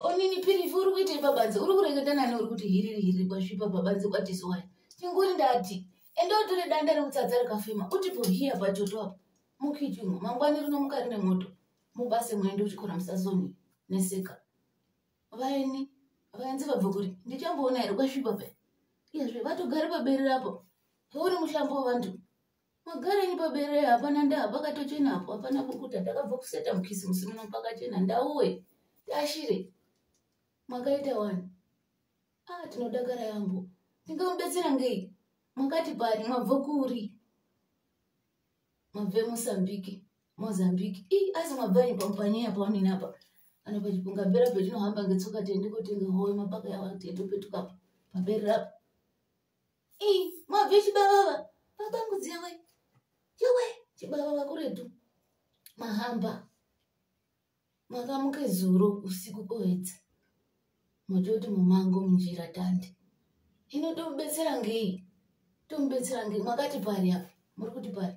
Onini pirifu uri kuitei pabanze uri kureketa nani uri kuti hiriri hiriri kwasvipa pabanze kwatisoya chinguri ndati ende utore danda rekutsatsa rakafema utipo hiya pachoto apo mukichimo mangwani rinomuka rine moto mubase muende uchikora musazoni neseka vaeni vaenzi vabve kuri ndichamboona here kwasvipa pe iyezve vatogari paberi rapo heuri muhlambo wevantu magarenyi pabere hapana nda pakatochena apo hapana bukuta ndakabva kuseta mukisimusi muno pakachena ndauwe tashire makaita wani a ah, tinodakara yambo ndingamubetsera ngei makati pari mabva kuri mabve mosambiki mozambiki i asi mabvanyi pampaniya paonini apa kana pachipunga bera petinohamba ngetsoka tiende kotenga howe mapaka yawa tiende petukapa pabere rapo mabve chibavava papangudzira we chewe chibavava kuretu mahamba makamuke zuro usiku koedza mototi mumango munjira tande ino tomubetsera ngei tomubetsera ngei makati pari apa muri kuti pari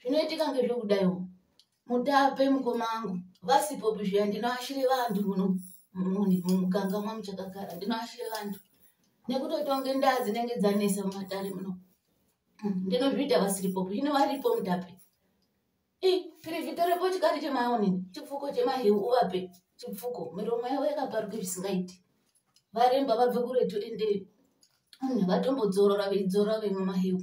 zvinoitika ngezvekudaiwo mutape mukoma angu vasipopi zviya ndinoashire vantu muno mumuganga mwamuchakagara ndinoashire vantu nekutotonge ndaa dzinenge dzanesa mumatare muno hmm, ndinozviita vasiripopi zvino varipo mutape i pirivhito repo chikati chemaonini chipfuko chemahewu uvape chipfuko miromo yavo yakaparuke zvisingaiti varemba vabve kuretu ende hmm, vatombodzorora veidzorora vemwe mahewu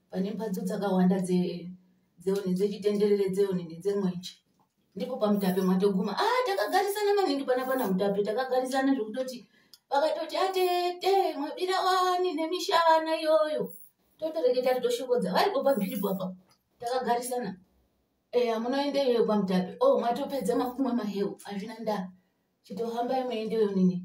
pane mhatso dzakawanda dzeonini dzechitenderere dzeonini dzemwenje ndipo pamutape mwatoguma a ah, takagarisana maningi pana pana mutape takagarisana zvekutoti vakatoti atete ah, mwabira wani nemishana iyoyo totoreketa ari toshokodza varipo pamhiripo apa takagarisana eya munoende iyoyo pamutape o oh, mwatopedza makumwe mahewu hazvina ndaa chitohambai muende yonini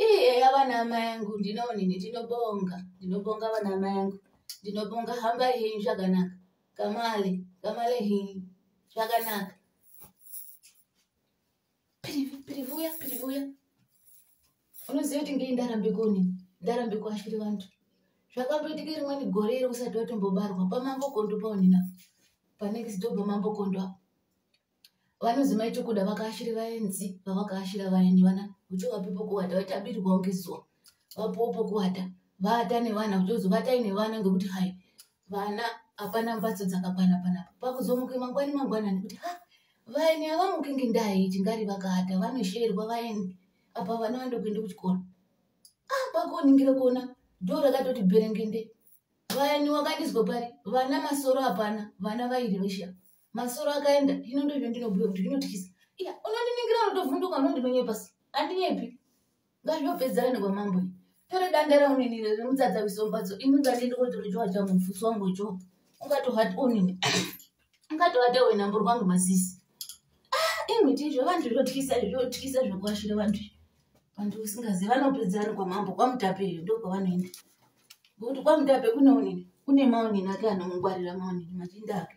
Ii eya vana amai angu ndinoonini ndinobonga ndinobonga vana amai angu ndinobonga hambai henyu zvakanaka kamale kamale henyu zvakanaka pirivuya pirivuya unoziva kuti ngei ndarambe koni ndarambe kuashiri vantu zvakamboitike rimweni gore iri usati watombobarwa pamambokondo paonina panext door pamambokondo apo vanozi maitokuda vakaashiri vaenzi vavakaashira vaeni vana uchivapi pokuwata vaitabirwa ngezuwa vapuwo pokuwata vata nevana uchozi vatai nevana ngekuti hai vana hapana mbatso dzakakwana panapa pakuzomuke mangwani mangwanani kuti ha vaeni havamuki ngendai tingari vakaata vanosheerwa vaeni apa vana vandokuenda kuchikoro ah kwakuoningira kuona dho rakatoti bherengende vayani wakandizwa pari vana masoro hapana vana vairi vesha masoro akaenda hino ndozvo ndinobhuya kuti zvinotyisa iya unondiningira unotovhunduka unondinonye pasi andinyepi ngazvopedzana nekwamambo iyi tore danda rauninire remutsatsa wisombatso ini ngandiende kotorojowa changu mfusi wangu cho ungatohat onini ungatohata wena mburi kwangu masisi ah, imiti izvo vantu zvotyisa zvotyisa zvokuashira vantu vantu usingazivi vanopedzana kwamambo kwamutapeyo ndokwavanoenda ngokuti kwaMutape kune onini kune maonini ake anongwarira maonini machinda ake